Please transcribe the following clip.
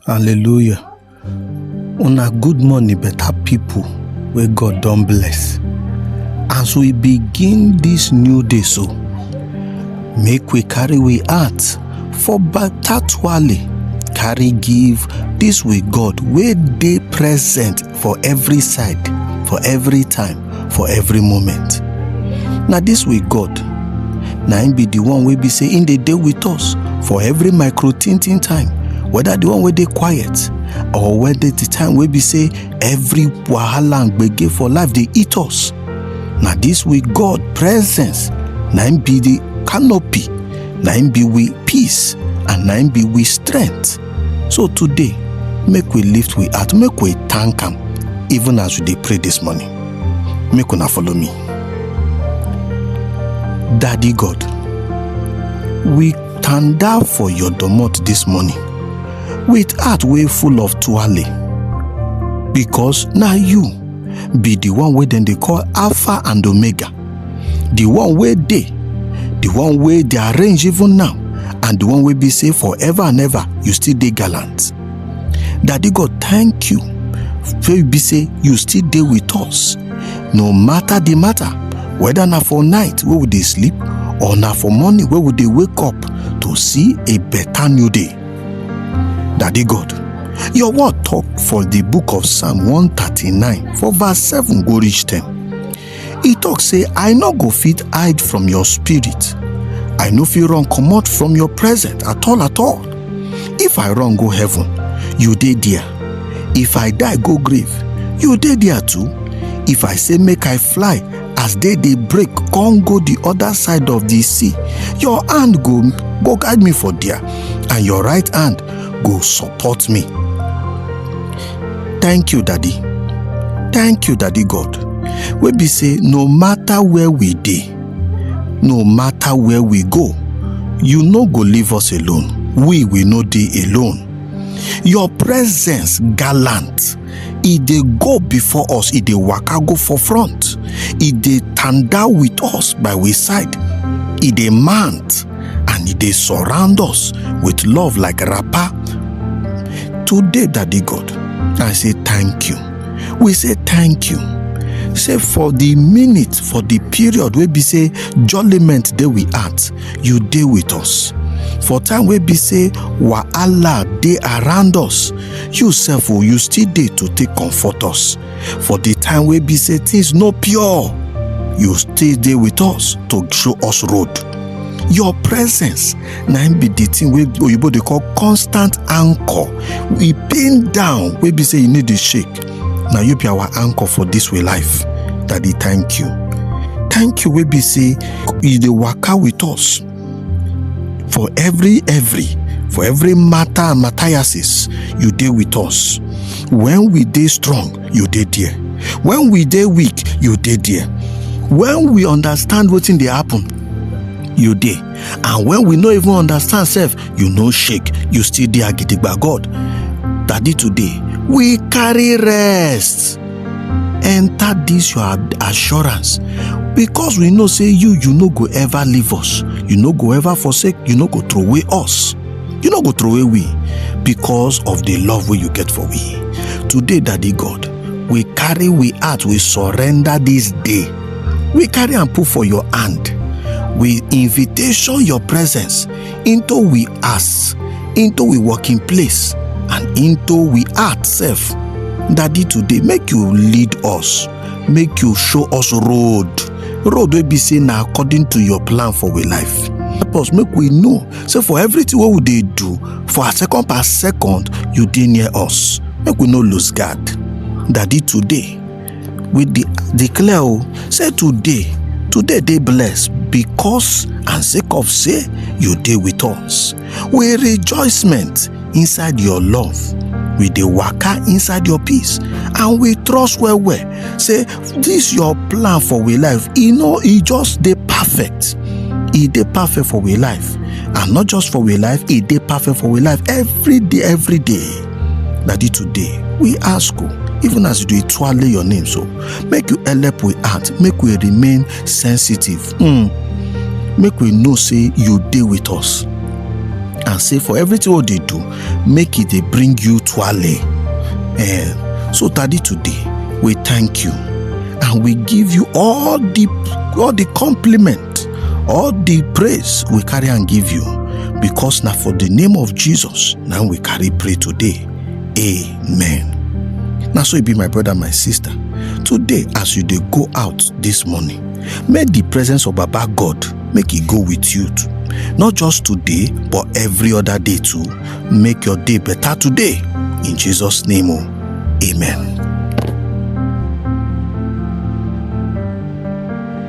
hallelujah una good morning better people wey god don bless as we begin this new day so make we carry we heart for better twale carry give this we god wey dey present for every side for every time for every moment na dis way god na im be the one wey be say im dey dey with us for every micro tintin time whether the one wey dey quiet or whether the time wey be say every wahala and gbege for life dey eat us na dis way god presence na im be the canopy na im be we peace and na im be we strength So today, make we lift we heart, make we thank am even as we dey pray this morning. Make una follow me. Daddy God, we tanda for your domot this morning with heart wey full of tuale because na you be the one wey dem dey call Alpha and Omega. the one wey dey the one wey dey arrange even now and the one wey be say forever and ever you still dey gallant daddy god thank you wey be say you still dey with us no matter the matter whether na for night wey we dey sleep or na for morning wey we dey wake up to see a better new day daddy god your word talk for the book of psalm 139 for verse 7 go reach 10 e tok say i no go fit hide from your spirit i no fit run comot from your presence at all at all if i run go heaven you dey there if i die go grave you dey there too if i say make i fly as day dey break come go the other side of the sea your hand go go guide me for there and your right hand go support me thank you daddy thank you daddy god wey be say no matter where we dey no matter where we go you no go leave us alone we we no dey alone your presence gallant e dey go before us e dey waka go for front e dey tanda with us by we side e dey mount and e dey surround us with love like wrapper. Today, Daddy God, I say thank you. We say thank you. Say for the minute, for the period wey be say jollyment dey we at, you dey with us. For time wey be say wahala dey around us, you sef o, you still dey to take comfort us. for di time wey be say things no pure you still dey with us to show us road your presence na im be di thing wey oyibo dey call constant anchor e pin down wey be say e no dey shake na you be our anchor for dis way life daddy thank you thank you wey be say you dey waka with us for every every for every matter and matthiases you dey with us when we dey strong you dey there when we dey weak you dey there when we understand wetin dey happen you dey and when we no even understand sef you no shake you still dey agidigba god daddy today we carry rest. enter dis your assurance because we know say you you no go ever leave us you no go ever forsake you no go throw away us you no go throw away we because of the love wey you get for we today daddy god we carry we heart we surrender this day we carry am put for your hand we invitation your presence into we ass into we working place and into we heart sef daddy today make you lead us make you show us road road wey be say na according to your plan for we life help us make we know say for everything wey we dey do for our second per second you dey near us make we no lose guard daddy today we de declare o say today today dey blessed because and sake of say you dey with us we rejoicement inside your love we dey waka inside your peace and we trust well well say this your plan for we life e no e just dey perfect e dey perfect for we life and not just for we life e dey perfect for we life every day every day na di today we ask o even as you dey twale your name so make you help we heart make we remain sensitive mm. make we know say you dey with us and say for everything we dey do make e dey bring you twale eh, so tadi today we thank you and we give you all the all the compliment all the praise we carry and give you because now for the name of jesus now we carry pray today amen Now so it be my brother my sister today as you they go out this morning may the presence of baba god make it go with you too not just today but every other day too make your day better today in jesus name oh, amen